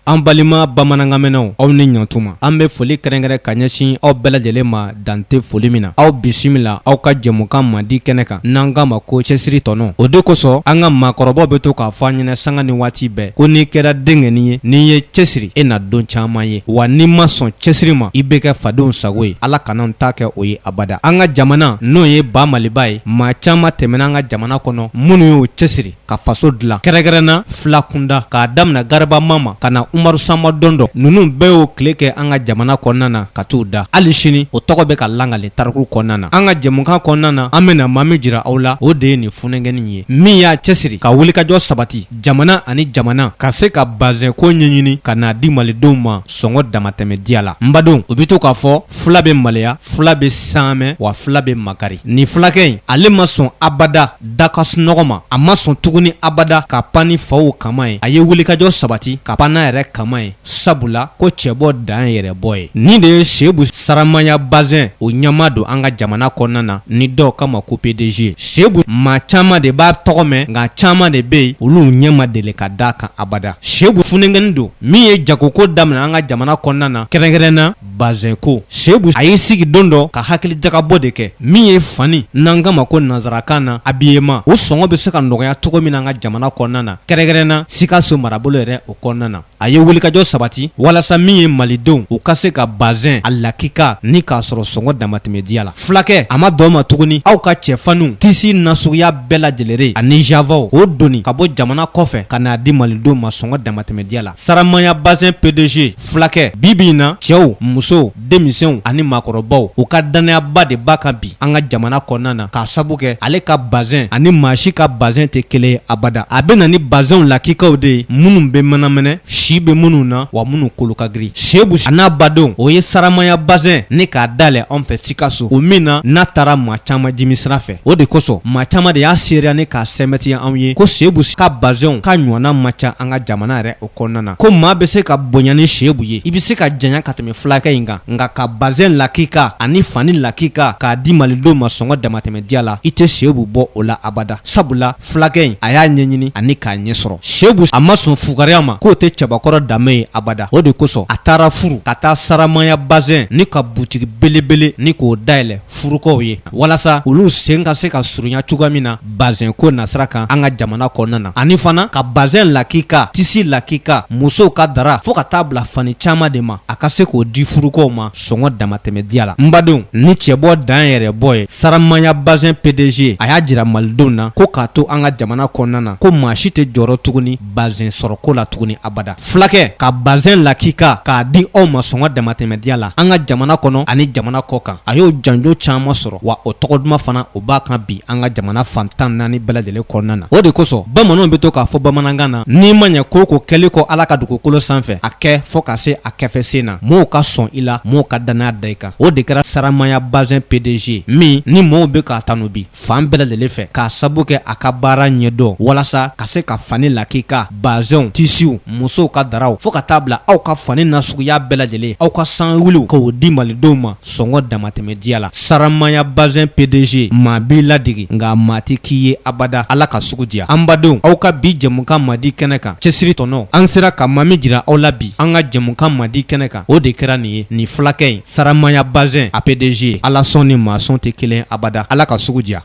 An balima bamanankanmɛnnaw aw ni ɲantuma an bɛ foli kɛrɛnkɛrɛn ka ɲɛsin aw bɛɛ lajɛlen ma dan tɛ foli min na aw bisimila aw ka jɛmukan mandi kɛnɛ kan n'an k'a ma ko cɛsiri tɔnɔ o de kosɔn an ka maakɔrɔbaw bɛ to k'a fɔ an ɲɛna sanga ni waati bɛɛ ko n'i kɛra denkɛnin ye n'i ye cɛsiri e na don caman ye wa n'i ma sɔn cɛsiri ma i bɛ kɛ fadenw sago ye ala kana ta kɛ o ye abada an ka jamana n'o ye ba maliba ye maa caman tɛmɛna an ka jamana kɔnɔ minnu y'o cɛsiri ka faso dilan kɛrɛnkɛrɛn na fila kunda k'a daminɛ garaba mama ka na umaru sanba dɔndɔ ninnu bɛɛ y'o tile kɛ an ka jamana kɔnɔna na ka t'u da hali sini o tɔgɔ bɛ ka lakali tariku kɔnɔna na an ka jɛmukan kɔnɔna na an bɛna maa min jira aw la o de ye nin funɛnkɛnin ye min y'a cɛsiri ka wulikajɔ sabati jamana ani jamana ka se ka bazɛn ko ɲɛɲini ka n'a di malidenw ma sɔngɔ damatɛmɛ diya la n badenw u bɛ to k'a fɔ fila bɛ maleya fila bɛ saamɛ wa fila bɛ makari nin fulakɛ in ale ma sɔn abada Da ka sunɔgɔ ma a ma sɔn tuguni abada ka pan ni faw kaman ye a ye wulikajɔ sabati ka pan n'a yɛrɛ kaman ye sabula ko cɛbɔ dan yɛrɛ bɔ ye nin de ye sebu saramaya bazɛn o ɲɛmaa don an ka jamana kɔnɔna na ni dɔw k'a ma ko pdg sebu maa caman de b'a tɔgɔ mɛn nka caman de bɛ yen olu ɲɛ ma deli ka d'a kan abada sebu funɛnkɛnin don min ye jagoko daminɛ an ka jamana kɔnɔna na kɛrɛnkɛrɛn na bazɛn ko sebu a y'i sigi don dɔ ka hakili jagabɔ de kɛ min ye fani n'an k'a ma ko nanzarakan na habillement o sɔngɔ bɛ se ka nɔgɔya cogo min na an ka jamana kɔnɔna na kɛrɛnkɛrɛn na sikaso marabolo yɛrɛ o kɔnɔna na a ye wulikajɔ sabati walasa min ye malidenw u ka se ka bazɛn a lakika ni k'a sɔrɔ sɔngɔ damatɛmɛ diya la fulakɛ a ma dan o ma tuguni aw ka cɛfaniw tisi nasuguya bɛɛ lajɛlen ani javaw k'o doni ka bɔ jamana kɔfɛ ka n'a di malidenw ma sɔngɔ damatɛmɛ diya la saramaya bazɛn pdg fulakɛ bi bi in na cɛw musow denmisɛnw ani maakɔrɔbaw u ka dannayaba de b'a kan bi an ka jamana kɔnɔna na k'a sabu kɛ ale ka bazɛn ani maa si ka bazɛn tɛ kelen ye abada a bɛ na ni bazɛnw lakikaw de ye minnu bɛ mɛnɛmɛnɛ si bɛ minnu na wa minnu kolo ka girin sebu a n'a badenw o ye saramaya bazɛn ne k'a dayɛlɛ anw fɛ sikaso o min na n'a taara maa caman jimi sira fɛ o de kosɔn maa caman de y'a seereya ni k'a sɛmɛntiya anw ye ko sebu ka bazɛnw ka ɲɔgɔnna ma ca an ka jamana yɛrɛ o kɔnɔna na ko maa bɛ se ka bonya ni sebu ye i bɛ se ka janya ka tɛmɛ fulakɛ in kan nka ka bazɛn lakika ani fani lakika k'a di malidenw ma sɔngɔ damatɛmɛ diya la i tɛ sebu bɔ o la abada sabula fulakɛ in a y'a ɲɛɲini ani k'a ɲɛ sɔrɔ sebu a ma sɔn fugariya ma k'o tɛ cɛbakɔrɔ danbe ye abada o de kosɔn a taara furu ka taa saramaya bazɛn ni ka butigi belebele ni k'o dayɛlɛ furukaw ye walasa olu sen ka se ka surunya cogoya min na bazɛn ko nasira kan an ka jamana kɔnɔna na ani fana ka bazɛn lakika tisi lakika musow ka dara fo ka taa bila fani caman de ma a ka se k'o di furukaw ma sɔngɔ damatɛmɛ diya la n badenw ni cɛbɔ dan yɛrɛ bɔ ye saramaya bazɛn pdg a y'a jira malidenw na ko k'a to an ka jamana kɔnɔna na ko maa si tɛ jɔrɔ tuguni bazɛn sɔrɔko la tuguni abada fulakɛ ka bazɛn lakika k'a di aw ma sɔngɔ damatɛmɛ diya la an ka jamana kɔnɔ ani jamana kɔkan a y'o janjo caman sɔrɔ wa o tɔgɔ duman fana o b'a kan bi an ka jamana fan tan naani bɛɛ lajɛlen kɔnɔna na o de kosɔn bamananw bɛ to k'a fɔ bamanankan na n'i ma ɲɛ ko ko kɛli kɔ ala ka dugukolo sanfɛ a kɛ fo ka se a kɛfɛsen na mɔɔw ka sɔn i la mɔɔw ka dannaya da i kan o de kɛra saramaya bazɛn pdg min ni mɔɔw bɛ k'a tanu bi fan bɛɛ lajɛlen fɛ k'a sabu kɛ a ka baara ɲɛdɔn walasa ka se ka fani lakika bazɛnw tisiw musow ka daraw fo ka taa bila aw ka fani nasuguya bɛɛ lajɛlen aw ka san wuliw k'o di malidenw ma sɔngɔ damatɛmɛ diya la saramaya bazɛn pdg maa b'i ladege nka maa tɛ k'i ye abada ala ka sugu diya an badenw aw ka bi jɛmukan madi kɛnɛ kan cɛsiri tɔnɔ an sera ka maa min jira aw la bi an ka jɛmukan madi kɛnɛ kan o de kɛra nin ye nin fulakɛ in saramaya bazɛn a pdg ala sɔn ni maa sɔn tɛ kelen abada ala ka sugu diya